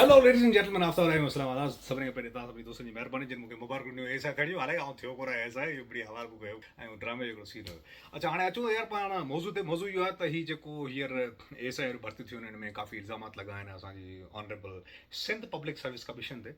Hello ladies and gentlemen Aftab Rahim Islamabad سڀني کان پهرين توهان سڀني دوستن جي مهرباني جن مونکي مبارڪون ڏنيون اي سا کڻيو هالي آئون ٿيو ڪونه آهي سا اهو بڙي حوال ڪو ڪيو ۽ ڊرامي جو هڪڙو سين هيو اچا هاڻي اچون يار پاڻ موضوع تي موضوع اهو آهي ته هي جيڪو هيئر اي سا اي ڀرتي ٿيون ان ۾ ڪافي الزامات لڳا آهن اسان جي honourable Sindh public service commission تي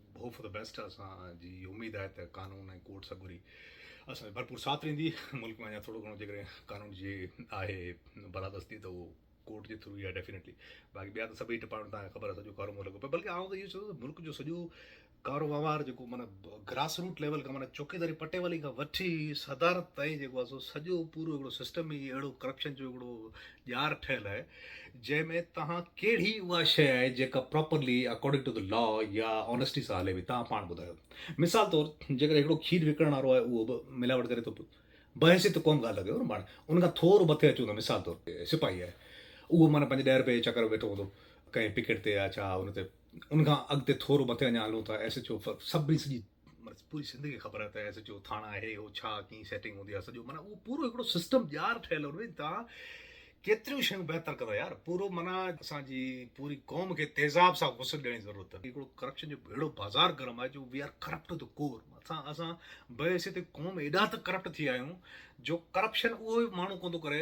هوپ فار دي بيسٽ اسان جي اميد آهي ته قانون ۽ ڪورٽ سگهوري اسان جو ڀرپور ساٿ ڏيندي ملڪ ۾ اڃا ٿورو گهڻو جيڪڏهن قانون جي آهي بالادستي ته اهو ڪورٽ جي ٿرو ئي آهي ڊيفينيٽلي باقي ٻيا ته سڀئي ڊپارٽمينٽ تان خبر سڄو ڪارومور لڳو پيو بلڪه آئون ته اهو چوندو ته ملڪ جو سڄو ڪارو وهنوار جيڪو معنی گراس روٽ ليول کان معنی چوڪيداري پٽي والي کان وٺي صدارت تائين جيڪو آهي سو سڄو پورو هڪڙو سسٽم ئي اهڙو ڪرپشن جو هڪڙو ڄار ٺهيل آهي جنهن ۾ توهان ڪهڙي اها شيء آهي جيڪا properly according to the law يا آنيسٽي سان هلي پئي تان پاڻ ٻڌايو مثال طور جيڪڏهن هڪڙو کير وڪڻڻ وارو آهي اهو به ملاوٽ ڪري ٿو بحيثيت قوم ڳالهه ٿا ڪيون نه پاڻ ان کان ٿورو مٿي اچون ته مثال طور سپاهي آهي اهو معنيٰ پنهنجي ڏهه رپئي چڪر ويٺو هوندو ڪنهن پڪيٽ تي يا ڇا ان تي ان کان اڳتي ٿورو مٿي اڃا هلون ٿا ايس ايڇ او سڀ سڄي معنيٰ پوري سنڌ کي خبر آهي ته ايس ايڇ او ٿاڻا آهي اهو ڇا ڪيئن سيٽنگ هوندي آهي سڄو معنيٰ اهو پورو هڪڙو سسٽم ڄار ٺهيل هو ان تان ڪيتريون شيون بهتر ڪندا يار پورو معنيٰ اسان جي پوري قوم کي تيزاب سان غسل ڏيڻ جي ضرورت اٿن هڪڙو ڪرپشن جو اهڙو بازار گرم آهي جو we are corrupt to the core اسان اسان بحيثيت قوم ايڏا ته ڪرپٽ ٿي آهيون جو ڪرپشن اهو ماڻهو ڪوندو ڪري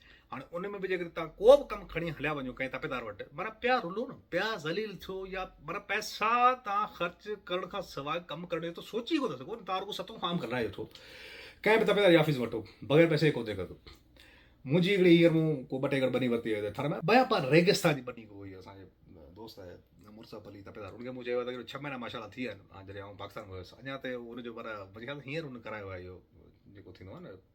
هاڻي ان ۾ به جيڪڏهن توهان ڪو به ڪم کڻي هليا وڃو ڪنهن تپيدار وٽ، معنيٰ پيا رلو نه، پيا ذليل ٿيو يا معنيٰ پئسا توهان خرچ ڪرڻ کان سواء ڪم ڪرڻ جو ته سوچي ئي ڪونه سگهو نه، توهان رڳو ستون خام کلرائي وٺو. ڪنهن به تپيدار يافيس وٽ بغير پئسي جي ڪو ديکر ٿو. منهنجي هڪڙي هينئر مون ڪو ٻه ٽي ايڪڙ ٻني ورتي هئي ٿر ۾. بيان پار ريگستان جي ٻني هئي اسان جي دوست آهي مرزا علي تپيدار ان کي مون چيو ته هينئر ڇهه مهينا ماشاء الله ٿي ويا آهن جڏهن آئون پاڪستان ۾ هيس اڃا تائين ان جو معنيٰ منهنجي خيال ۾ هينئر هن ڪرايو آهي اهو جيڪو ٿيندو آهي نه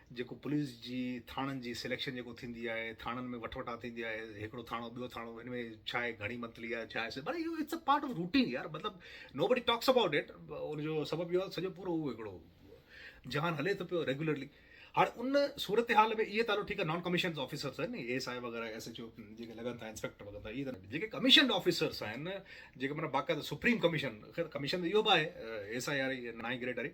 جيڪو پوليس جي ٿاڻن جي سليڪشن جيڪو ٿيندي آهي ٿاڻن ۾ وٺ وٺان ٿيندي آهي هڪڙو ٿاڻو ٻيو ٿاڻو هن ۾ ڇا آهي گهڻي منٿلي آهي ڇا آهي مطلب it's a part of routine يار مطلب نو بڊي ٽاڪس اباؤٽ اٽ ان جو سبب اهو آهي سڄو پورو اهو هڪڙو جهان هلي ٿو پيو ريگولرلي هاڻي ان صورتحال ۾ اهي تعلق ٺيڪ آهي نان ڪميشنز آفيسرس آهن اي ايس آء وغيرہ ايس ايچ او جيڪي لڳن ٿا انسپيڪٽر وغيرا اهي ته جيڪي ڪميشنڊ آفيسرس آهن جيڪي مطلب باقاعده سپريم ڪميشن خير ڪميشن اهو به آهي ايس آء آر نائين گريڊ واري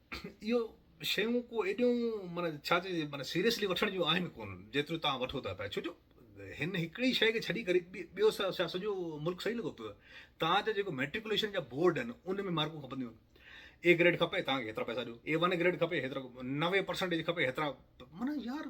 اهو شيون ڪو ايڏيون معنيٰ ڇا چئجي معنيٰ سيريسلي وٺڻ جون آهن ڪونه جيتريون توهان وٺو ٿا پيا ڇوجو هن هڪڙي شيء کي ڇڏي ڪري ٻيو ڇا سڄو ملڪ صحيح لڳو پيو توهان جا جيڪو ميٽريڪوليشن جا بورڊ آهن ان ۾ مارڪون کپنديون آهن اي گريڊ کپي توهان کي هيترا پئسا ڏيو اي ون گريڊ کپي هيترا نوي پرسنٽيج کپي هيترا معنيٰ يار